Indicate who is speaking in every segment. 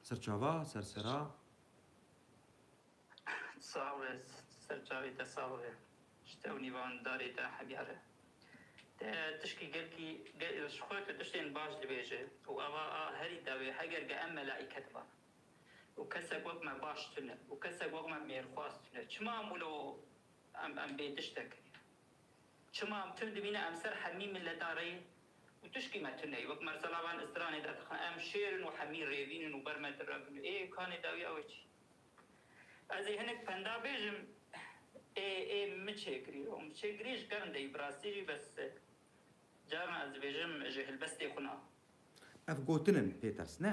Speaker 1: Serçava ser sera.
Speaker 2: Sawe serçavê te sax be. Ji te û nîvan darê te hebyar e. Te tişkî gelkî ji xwe tu tiştên baş dibêje û ava a herî dawê heger ge em melaîket ban û kesek wek me baş tune û kesek wek me mêrxwaz tune çima em wilo em em bê tiştekirî. Çima em tund dibîne em ser hemî miletan rê yin û tişkî me tune ye. Wek mersala van stranê de dixin em şêr in û hemî rêvîn in û ber me dire bin. Ê kanê dawî ew ê çi? Ez ê hinek penda bêjim ê ê min çê kirî û min çê kirî ji kevin deyî bi rastî jî bes caran ez dibêjim ji hilbestê xwe na. Ev gotin
Speaker 1: in pê ters ne.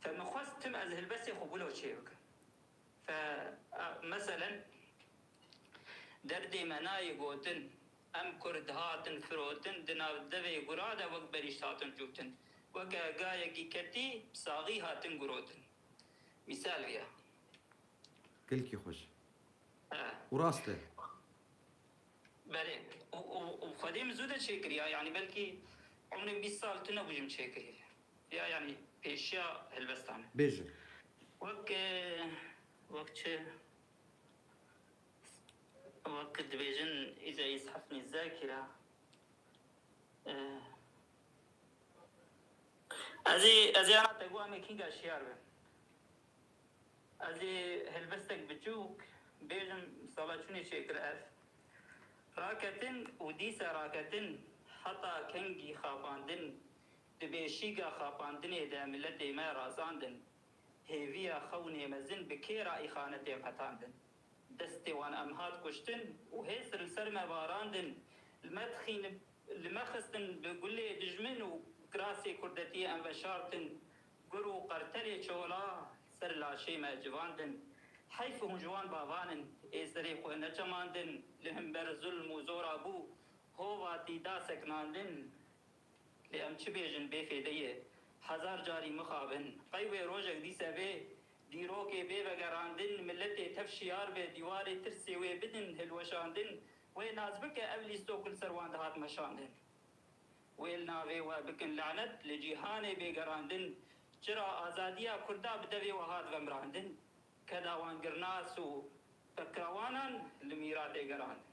Speaker 1: Fe min
Speaker 2: xwest tim ez helbestê xwe bûlo çê bikim. Fe meselen derdê me nayê gotin em kurd hatin firotin di nav devê gura de wek benîşt hatin cûtin. Weke gayekî ketî saxî hatin gurotin. Mîsal viya.
Speaker 1: Gelkî xweş û rast e.
Speaker 2: Belê û xwedê min zû de çêkiriya yanî belkî umrê bîst sal tune bû ji min çêkirî. Ya yanî pêşiya helbestan. Bêje.
Speaker 1: Wek
Speaker 2: wek çi wek dibêjin îca îz heft nîz zerkî ra Ez ê ez ê ana te got em ê kînga şiyar bin. Ez ê helbestek biçûk bêjim sala çûnê çêkir ev. Raketin û dîsa raketin heta kengî xapandin. Di beşîga xapandinê de miletê me razandin, hêviya xewnê mezin bi kê re îxanetên qetandin. Destê wan em hat kuştin û hêz li ser me barandin, li me dixîn, li me xistin bi gulê dijmin û kirasê kurdetiyê em veşartin, gur û qertelê çola ser laşê me civandin. Heyf hûn ji wan bavan in, ê serê xwe nechemandin, li himber zulm û zora bû, hovatî da sekinandin. Lê em çi bêjin bê fêde ye. Hezar carî mixabin. Qey wê rojek dîse vê dîrokê bê vegerandin, miletê tev şiyar be, dîwarê tirsê wê bidin hilweşandin. Wê nas bike ev lîsto ku li ser wan dihat meşandin. Wê li navê we bikin lanet li cîhanê bê gerandin. Çira azadiya kurda bi devê we hat vemrandin. Keda wan girnas û pekirawanan li mîratê gerandin.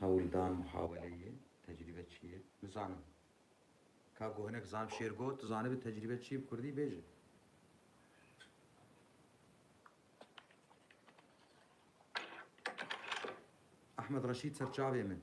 Speaker 1: Hewldan muhaweleyê tecrîbe çi ye? Bizanin. Ka ku hinek zan şêr got, tu zanibî tecrîbe çi ye bi kurdî bêje. Ahmed Reşîd serçavê min.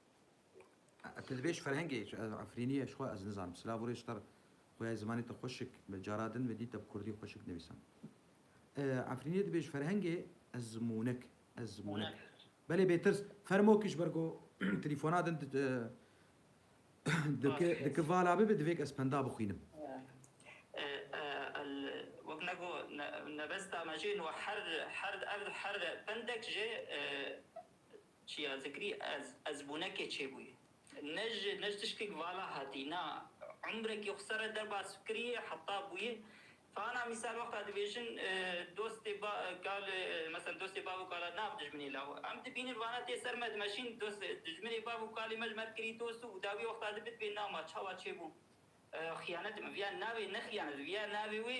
Speaker 1: Ez li vê ji ferhengê ji Efrîniyê ji xwe ez nizanim. Silav û rêz ji te re. Xuya zimanê te xweş şik be. Cara din ve dît te bi kurdî xweş şik nivîsan. Efrîniyê dibê ji ferhengê ez zimûnek. Ez zimûnek. Belê bêtirs. Fermo kî ji ber ku telîfona din diki vala bibe divê ku ez penda bixwînim.
Speaker 2: Wek me got nebesta me jê niha her her her her pendek jê Çiya zikrî ez, ez bûnekê çêbûyî. Ne ji ne ji tişkek vala hatî, na umrekê xwe ser e derbas bikirîyê heta bûyê. Fana mîsal wexta dibêjin dostê ba kal meselan dostê bav û kala nav dijminê law. Em dibînin vana tê ser me dimeşîn dost dijminê bav û kalê me ji me dikirî dost û dawî wexta di bidibê na ma çawa çêbû xiyanet bi vîya navê ne xiyanet bi vîya navê wê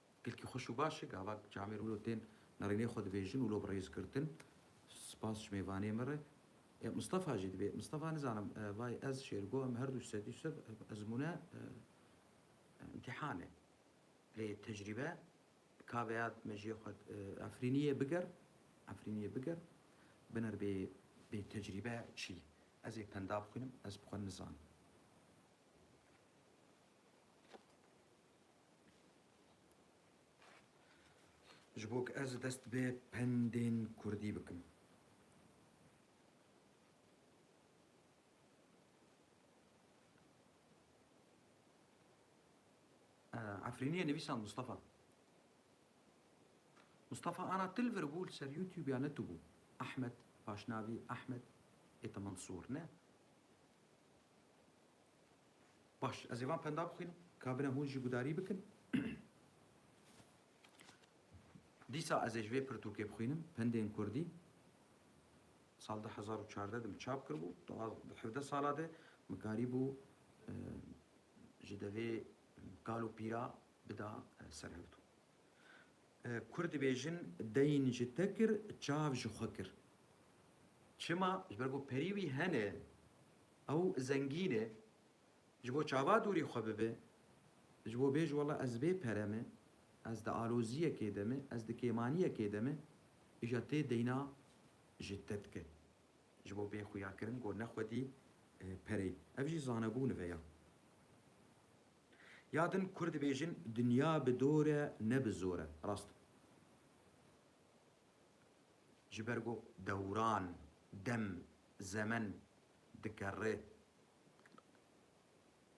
Speaker 1: Gelkî xweş û baş e gava camê re wilo tên nerînê xwe dibêjin wilo bi rêz girtin. Spas ji mêvanê me re. Mistefa jî dibê. Mistefa nizanim vay ez Şêrgo em herdû sedî sed ezmûne îmtîhan e. Lê tecrîbe kaveya mejiyê xwe Efrînî yê biger Efrînî yê biger biner bê bê tecrîbe çî ez ê penda bixwînim ez bi xwe nizanim. Ji bo ku ez dest bi pendên kurdî bikim. Efrîniyê nivîsand Mustafa. Mustafa ana til vir bû li ser YouTube ya ne tu bû. Ahmed paşnavî Ahmed ê te Mansur ne. Baş, ez ê van penda bixwînim, ka bine hûn jî gudarî bikin. Dîsa ez ê ji vê pirtûkê bixwînim, Pendên Kurdî. Sal du hezar û çardeh de min çap kiribû. Di hevdeh sala de min karîbû ji devê kal û pîra bida ser hevdû. Kurd dibêjin deyn ji te kir, çav ji xwe kir. Çima? Ji ber ku perî wî hene Ew zengîn e. Ji bo çava dûrî xwe bibe, ji bo bêje wela ez bê pere me, ez di aloziyekê de me, ez di kêmaniyekê de me, îja tê deyna ji te dike. Ji bo bê xuyakirin got ne xwedî pereyê. Ev jî zanebû nive ya. Ya din Kurd dibêjin dinya bi dor e ne bi zor e. Rast e. Ji ber ku dewran, dem, zemen dike rê.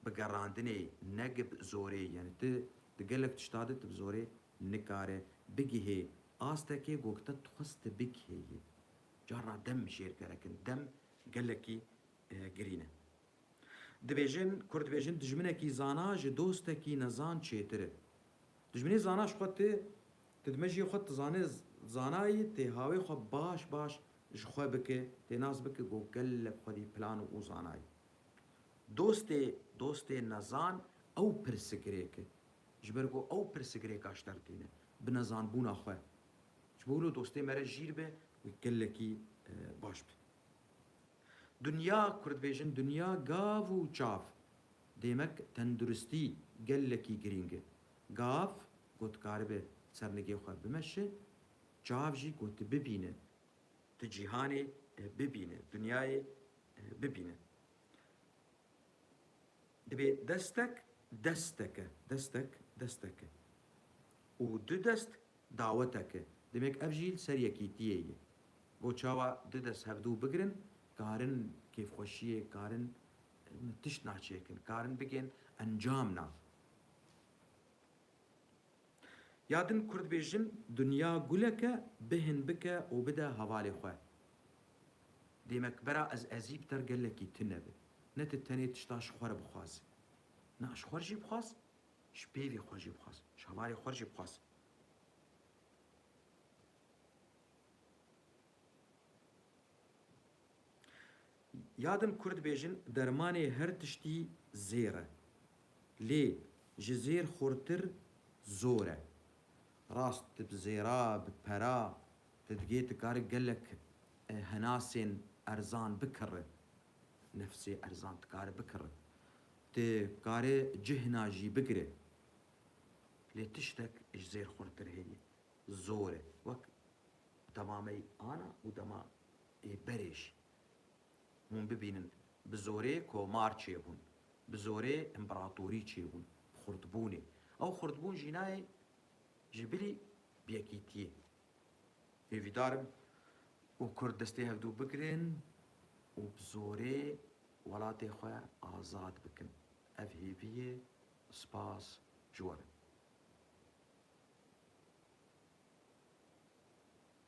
Speaker 1: Bi gerandinê ne ki bi zorê yanî tu di gelek tişta de tu bi zorê nikare bigihê astekê ku te dixwest tu bigihê yê. Carna dem jêrgerekin. Dem gelekî girîn e. Dibêjin, Kurd dibêjin dijminekî zana ji dostekî nezan çêtir e. Dijminê zana ji xwe tê, tu di mejiyê xwe tizanê zanayî tê hawê xwe baş baş ji xwe bike, tê nas bike ku gelek xwedî plan û zanayî. Dostê dostê nezan ew pirsigrêk e. Ji ber ku ew pirsigrêka şter tîne, bi nezanbûna xwe. Ji bo wilo dostê me re jîr be û gelekî baş be. Dinya, Kurd bêjin dinya gav û çav. Dêmek tenduristî gelekî girîng e. Gav ku tu karibe sernigê xwe bimeşe, çav jî ku tu bibîne, tu cîhanê bibîne, dinyayê bibîne. Divê destek desteke, destek desteke û du dest daweteke. Demek ev jî li ser yekîtiyê ye. Bo çawa du dest hevdu bigirin, karin kêfxweşiyê, karin min tişt na çêkin, karin bigên encam na. Ya din kurd bêjin dinya gulek e bihin bike û bide hevalê xwe. Dêmekbera ez ezî bi ter gelekî tune be. Ne tu tenê tişta ji xwe re bixwaze. Na ji xwe re jî bixwaz, ji pêvê xwe re jî bixwaz, ji hevalê xwe re jî bixwaz. Ya din Kurd dibêjin dermanê her tiştî zêr e. Lê ji zêr xurtir zor e. Rast di bi zêra, bi pera di digê tu kari gelek henasên erzan bikiri. Nefsê erzan tu kari bikiri. Tu kari cihna jî bigiri. Lê tiştek ji zêr xurtir heye. Zor e. Wek dema me ana û dema Ê berêj, hûn bibînin bi zorê komar çêbûn, bi zorê împeratorî çêbûn, xurtbûnê. Ew xurtbûn jî nayê ji bilî yekîtiyê. Hêvîdar im û kurd destê hevdû bigirin û bi zorê welatê xwe azad bikin. Ev hêvî ye, spas ji we be.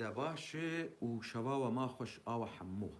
Speaker 1: De baş e û şeva we ma xweş a we hemû.